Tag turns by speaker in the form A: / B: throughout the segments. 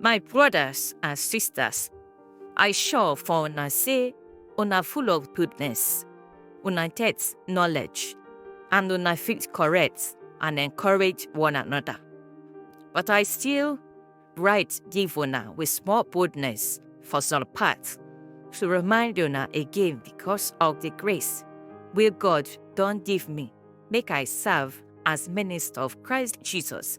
A: My brothers and sisters, I sure for una say una full of goodness, una get knowledge, and una fit correct and encourage one another. But I still write give una with small boldness for some parts to remind una again because of the grace wey God don give me make I serve as minister of Christ Jesus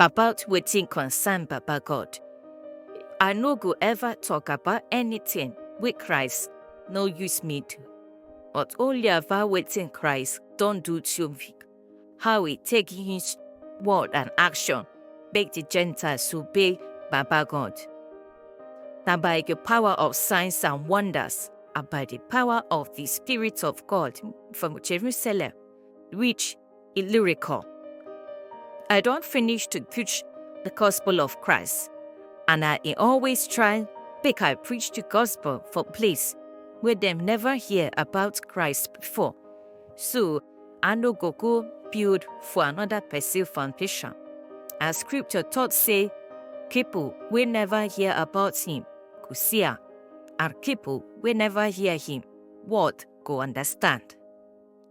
A: About wetin concern Baba God, I no go ever talk about anything wey Christ no use me do, but only about wetin Christ don do to me, how he take use word and action make the Gentiles obey Baba God. Na by the power of signs and wonders and by the power of the Spirit of God from Jerusalem reach Illyricum. I don't finish to preach the gospel of Christ, and I always try make I preach the gospel for place where them never hear about Christ before. So I no go go build for another person foundation. As scripture taught say, people we never hear about him go see am, and people we never hear him word go understand.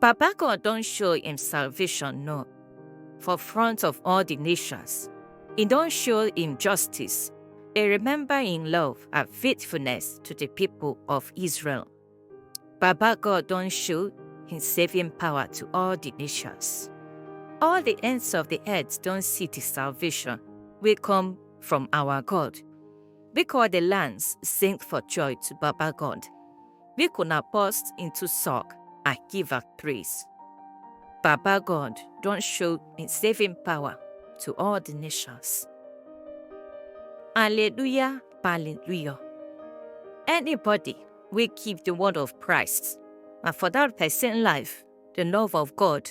A: Baba God don show im salvation no for front of all di nations. E don show im justice, e remember im love and faithfulness to di pipo of Israel. Baba God don show im saving power to all di nations. All di ends of di earth don see di salvation wey come from our God. Make all di lands sing for joy to Baba God. make una burst into song and give am praise. Baba God don show im saving power to all the nations. Alleluia, Alleluia. Anybody wey keep the word of Christ, na for that person life the love of God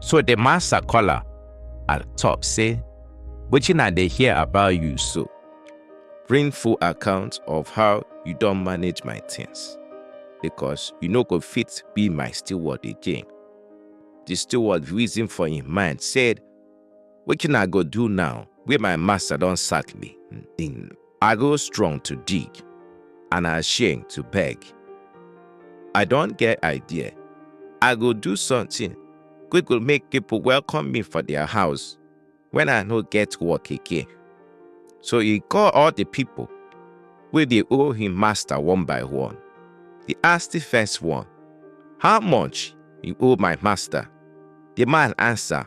A: So the master call her and talk say, Wetin I dey hear about you so? Bring full account of how you don manage my things because you no go fit be my steward again. The steward reason for him mind said, Wetin I go do now wey my master don sack me? I go strong to dig, and I shame to beg. I don get idea. I go do something wey go make people welcome me for their house when I no get work again. So he call all the people wey dey owe him master one by one. He ask the first one, How much you owe my master? The man answer,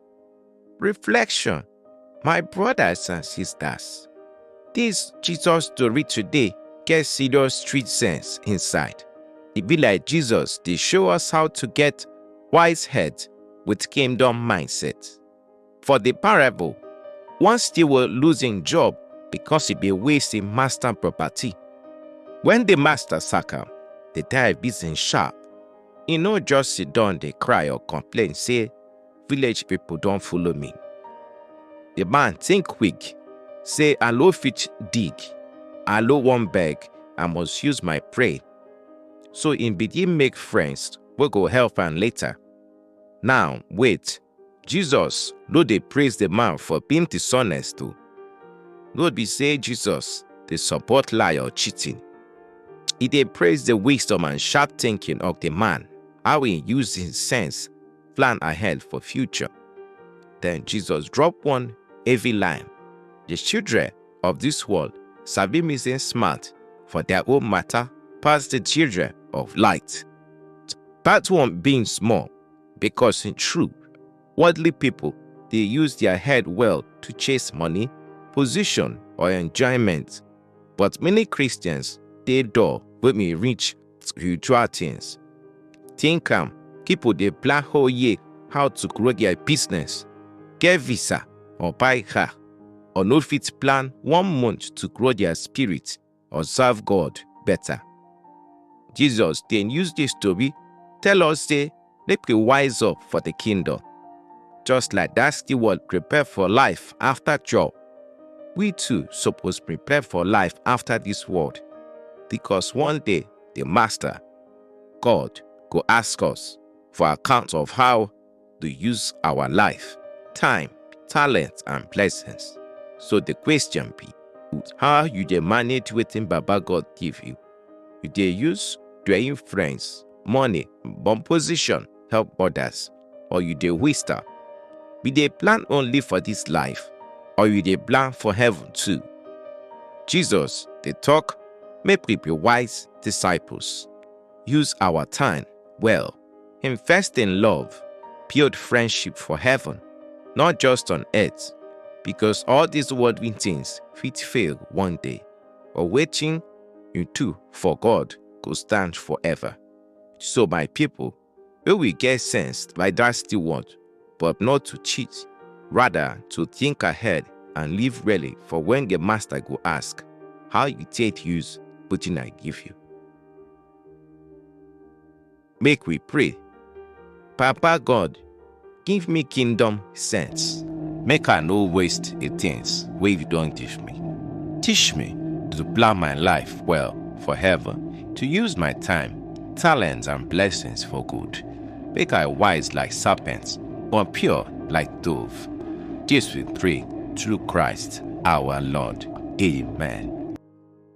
A: Reflection My brothers and sisters, this Jesus story today get serious street sense inside. E be like Jesus dey show us how to get wise head with kingdom mindset. For the parable, one steward lose im job because e dey waste im master property. When the master sack am, the guy busy sharp. E no just sit down dey cry or complain say village people don follow me. The man think quick, say I no fit dig, I no wan beg, I must use my brain. So im begin make friends wey go help am later. Now, wait, Jesus no dey praise the man for being dishonest o. No be say Jesus dey support lie or cheating. E dey praise the wisdom and sharp thinking of the man, how e use im sense plan ahead for future. Then Jesus drop one heavy line. The children of this world sabi me say smart for their own matter pass the children of light. That one being small because in truth, worldly people they use their head well to chase money, position or enjoyment. But many Christians they door with me reach spiritual things. Think am, people dey plan whole year how to grow their business, get visa or buy car, or no fit plan one month to grow their spirit or serve God better. Jesus then use this story tell us say make we wise up for the kingdom. Just like that steward prepare for life after job, we too suppose prepare for life after this world because one day the Master, God, go ask us for account of how to use our life, time, talent, and blessings. So the question be, how you dey manage wetin Baba God give you? You dey use your influence, money, bon position help others or you dey waste am? You dey plan only for this life or you dey plan for heaven too? Jesus dey talk make we be wise disciples. Use our time well. Invest in love. Build friendship for heaven, not just on earth, because all these worldly things fit fail one day. But wetin you do for God go stand forever. So my people, may we get sense like that still want, but not to cheat, rather to think ahead and live really for when the master go ask how you take use wetin I give you. Make we pray. Papa God, give me kingdom sense. Make I no waste the things wey you don give me. Teach me to plan my life well for heaven, to use my time, talents and blessings for good. Make I wise like serpents, but pure like dove. This we pray through Christ our Lord. Amen.